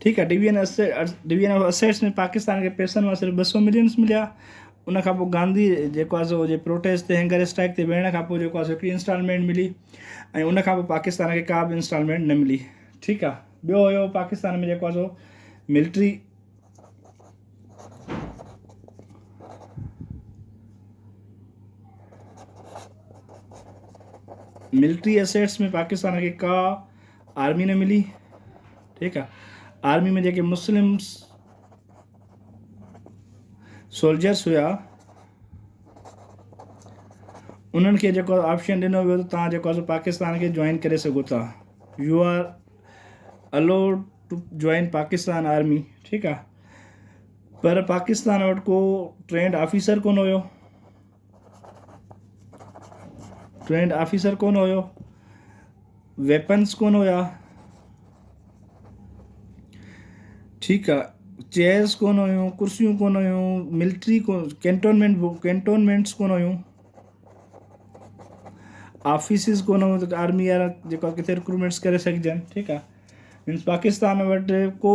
ٺيڪ آهي division of division of assets ۾ Pakistan کي پيسن مان صرف ٻه سؤ ملينس مليا ان کان پوء گانڌي جيڪو آهي سو جي پروٽيسٽ تي هينگر اسٽرائڪ تي ويهڻ کان پوء جيڪو آهي سو هڪڙي انسٽالمينٽ ملي ۽ ان کان پوء پاڪستان کي ڪا به انسٽالمينٽ نه ملي ٺيڪ آهي ٻيو هيو پاڪستان ۾ جيڪو آهي سو ملٽري ملٽري اسيٽس ۾ پاڪستان کي ڪا آرمي نه ملي ٺيڪ آ آرمي ۾ جيڪي مسلم سولجرس هيا انهن کي جيڪو آپشن ڏنو ويو ته تان جيڪو پاڪستان کي جوائن ڪري سگهو ٿا you are allowed to join Pakistan army ٺيڪ آ پر پاڪستان وٽ ڪو ٽرينڊ آفيسر ڪون هيو ٽرينڊ آفيسر ڪون هيو ويپنس ڪون هيا ٺيڪ آ چيئرس ڪون هيون ڪرسيون ڪون هيون ملٽري ڪينٽونمينٽ ڪينٽونمينٽس ڪون هيون آفيسز ڪون هيون ته آرمي وارا جيڪا ڪٿي رڪرومينٽس ڪري سگهجن ٺيڪ آ مينس پاڪستان وٽ ڪو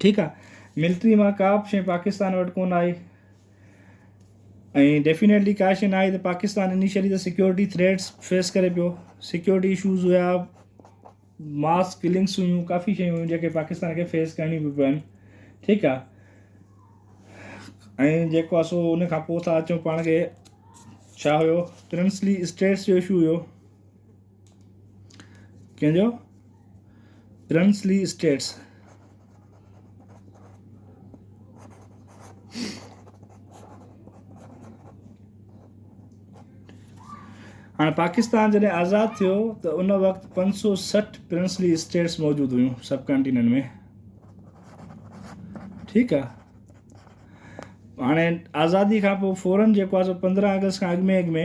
ٺيڪ آ ملٽري مان ڪا به شي پاڪستان وٽ ڪون آئي ۽ ڊيفينيٽلي ڪا شي ناهي ته پاڪستان انيشلي ته سيڪيورٽي تھريٽس فيس ڪري پيو سيڪيورٽي اشوز هيا ماس ڪلنگس هيون ڪافي شيون هيون جيڪي پاڪستان کي فيس ڪرڻي پيو پين ٺيڪ آ ۽ جيڪو آ سو ان کان پوء ٿا اچون پاڻ کي ڇا هيو پرنسلي اسٽيٽس جو اشو هيو ڪنهن جو؟ پرنسلي اسٽيٽس هاڻ پاڪستان جڏهن آزاد ٿيو ته ان وقت پنج سو سٺ پرنسلي اسٽيٽس موجود هيون سب ڪانٽيننٽ ۾ ٺيڪ آ هاڻي آزادي کان پوء فورن جيڪو آ سو پندرهن آگسٽ کان اڳ ۾ اڳ ۾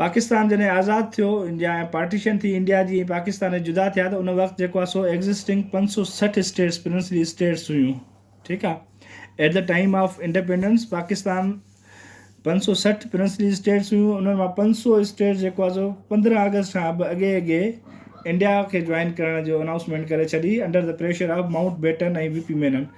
پاڪستان جڏهن آزاد ٿيو انڊيا ۽ پارٽيشن ٿي انڊيا جي ۽ پاڪستان ۽ جدا ٿيا ته ان وقت جيڪو آهي سو ايگزسٽنگ پنج سؤ سٺ اسٽيٽس پرنسلي اسٽيٽس هيون ٺيڪ آ at the time of independence Pakistan پنج سؤ سٺ پرنسلي اسٽيٽس هيون انهن مان پنج سؤ اسٽيٽس جيڪو آهي سو پندرهن آگسٽ کان به اڳي اڳي انڊيا کي جوائن ڪرڻ جو انائونسمينٽ ڪري ڇڏي under the pressure of Mountbatten ۽ V P Menon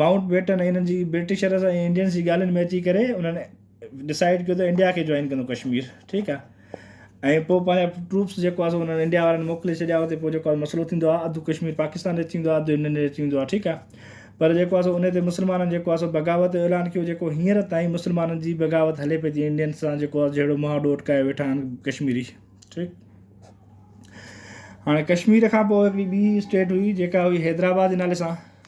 Mountbatten ۽ انهن جي برٽشرس ۽ انڊينس جي ڳالهين ۾ اچي ڪري انهن ڊسائيڊ ڪيو ته انڊيا کي جوائن ڪندو ڪشمير ٺيڪ آهي ۽ پوء پنهنجا ٽروپس جيڪو آهي انهن انڊيا وارن موڪلي ڇڏيا اتي پوء جيڪو مسئلو ٿيندو آهي اڌ ڪشمير پاڪستان جو اچي ويندو آهي اڌ انڊين جو اچي ويندو آهي ٺيڪ آهي پر جيڪو آهي ان تي مسلمانن جيڪو آهي بغاوت جو اعلان ڪيو جيڪو هينئر تائين مسلمانن جي بغاوت هلي پئي ٿي انڊين سان جيڪو آهي جهڙو مهاڏو اٽڪايو ويٺا آهن ڪشميري ٺيڪ هاڻي ڪشمير کان پوء هڪڙي ٻي اسٽيٽ هئي جيڪا هئي حيدرآباد جي نالي سان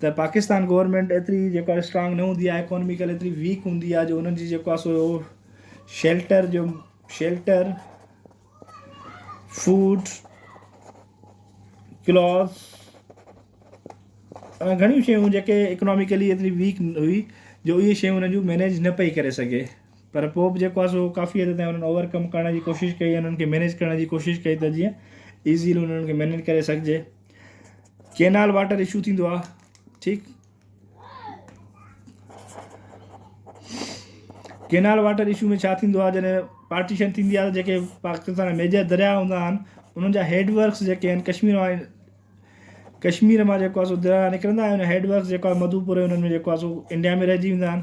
ته پاڪستان گورنمينٽ ايتري جيڪو آهي اسٽرانگ نه هوندي آهي اڪانوميڪل ايتري ويڪ هوندي آهي جو انهن جي جيڪو آهي سو شيلٽر جو شيلٽر فوڊ کلاس گھڻيون شيون جيڪي اڪناميڪلي ايتري ويڪ هئي جو اهي شيون انهن جون مينيج نه پئي ڪري سگھي پر پوء به جيڪو سو ڪافي حد تائين انهن اوور ڪم ڪرڻ جي ڪوشش ڪئي انهن کي مينيج ڪرڻ جي ڪوشش ڪئي ته جيئن ايزيلي انهن کي مينيج ڪري سگھجي ڪينال واٽر اشو ٿيندو آ ٺيڪ ڪينال واٽر اشو ۾ ڇا ٿيندو آ جڏهن پارٽيشن ٿيندي آ جيڪي پاڪستان جا ميجر دريا هوندا آهن انهن جا هيڊ ورڪس جيڪي آهن ڪشمير مان ڪشمير مان جيڪو آ سو دريا نڪرندا آهن هيڊ ورڪس جيڪو آ مڌوپور انهن ۾ جيڪو آ سو انڊيا ۾ رهجي ويندا آهن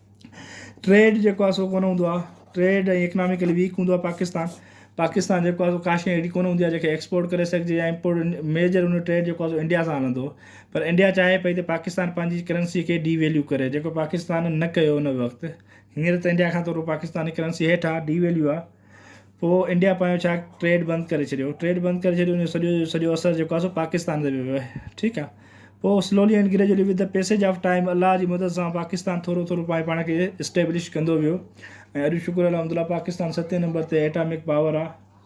ٽريڊ جيڪو آهي سو ڪونه هوندو آهي ٽريڊ ۽ اڪناميڪلي ويڪ هوندو آهي پاڪستان پاڪستان جيڪو آهي سو ڪا شيء اهڙي ڪونه هوندي آهي جنهن کي ايڪسپورٽ ڪري سگهجي يا امپورٽ ميجر ان جو ٽريڊ جيڪو آهي سو انڊيا سان هلندو پر انڊيا چاهي پئي ته پاڪستان پنهنجي ڪرنسي کي ڊي ويليو ڪري جيڪو پاڪستان نه ڪيو ان وقت هينئر ته انڊيا کان ٿورو پاڪستان جي ڪرنسي هيٺ آهي ڊي ويليو آهي پوء انڊيا پنهنجو ڇا ٽريڊ بند ڪري ڇڏيو ٽريڊ بند ڪري ڇڏيو ان جو سڄو جو سڄو اثر جيڪو آهي سو پاڪستان تي ويو آهي ٺيڪ آ پوء سلولي and gradually with the passage of time الله جي مدد سان پاڪستان ٿورو ٿورو پائي پاڻ کي اسٽيبلش ڪندو ويو ۽ اڄ شڪر الحمد الله پاڪستان ستين نمبر تي ايٽامڪ پاور آ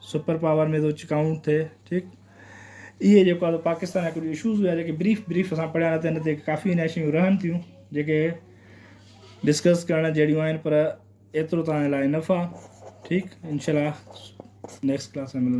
سپر پاور ۾ ٿو ڪائونٽ ٿئي ٺيڪ اهي جيڪو آهي پاڪستان جا ڪجهه اشوز هيا جيڪي بريف بريف اسان پڙهيا نه تن تي ڪافي هن شيون رهن ٿيون جيڪي ڊسڪس ڪرڻ جهڙيون آهن پر ايترو توهان جي لاء انف آ ٺيڪ انشاء الله نيڪسٽ ڪلاس ۾ ملنداسين.